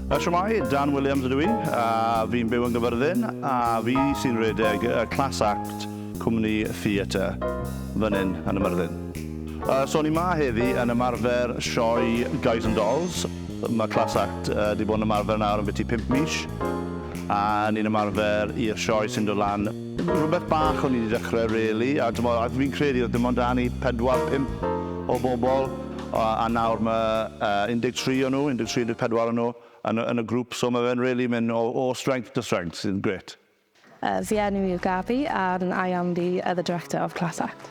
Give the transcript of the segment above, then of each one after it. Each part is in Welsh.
A shwmae, Dan Williams ydw i, a fi'n byw yn Gyfyrddin, a fi sy'n redeg y Class Act Cwmni Theatr fan hyn yn y Myrddin. A so ni ma heddi yn ymarfer sioe Guys and Dolls. Mae Class Act wedi bod yn ymarfer nawr am biti pump mis, a ni'n ymarfer i'r sioe sy'n dod lan Rhywbeth bach o'n i 'di dechrau rili a t'mod a fi'n credu oedd dim ond 'da ni pedwar pump o bobl a a nawr ma' yy 13 o nhw, 13, 14 o nhw yn y yn y grŵp so ma' fe'n rili mynd o o strength to strength sy'n grêt. Yy fy enw i yw Gaby and I am the other director of Class Act.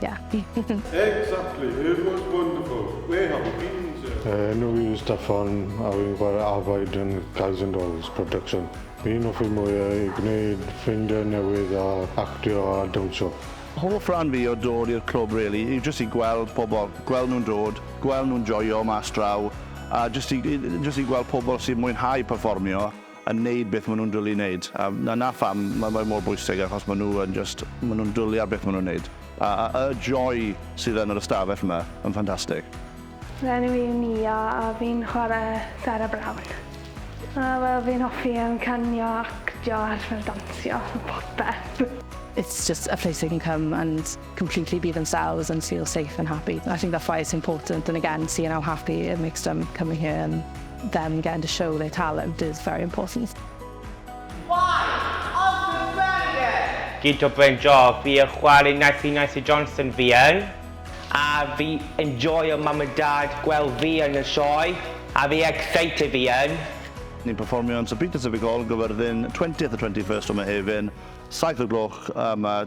Yeah. Exactly, it was wonderful. Where have you been, sir? Enw fi yw Steffan a fi'n chwarae Afaid yn Guys and Dolls production. Fi'n hoffi mwy o i gwneud ffrindiau newydd a actio a dawnsio. Hoff ran fi o dod i'r clwb rili yw jyst i gweld pobl, gweld nhw'n dod, gweld nhw'n joio mas draw a jyst i jyst i gweld pobl sy'n mwynhau perfformio. yn neud beth ma nhw'n dwli i neud a 'na pham ma fe mor bwysig achos ma nhw yn jyst ma nhw'n dwli ar beth ma nhw'n neud a y joy sydd yn yr ystafell ma yn ffantastig. Fy enw i yw Nia a fi'n chwarae Sarah Brown. A wel fi'n hoffi yym canio actio a fel dansio popeth. It's just a place I can come and completely be themselves and feel safe and happy. I think that's why it's important and again seeing how happy it makes them coming here and them getting to show their talent is very important. Gyd o bryn job fi yn chwarae nice i Nice Johnson fi yn. A fi enjoio mam a dad gweld fi yn y sioe a fi excited fi yn. Ni'n perfformio yn Sir Peter Civic Hall, Gyfyrddin, 20th a 21st o Mehefin, 7 o'r gloch, a mae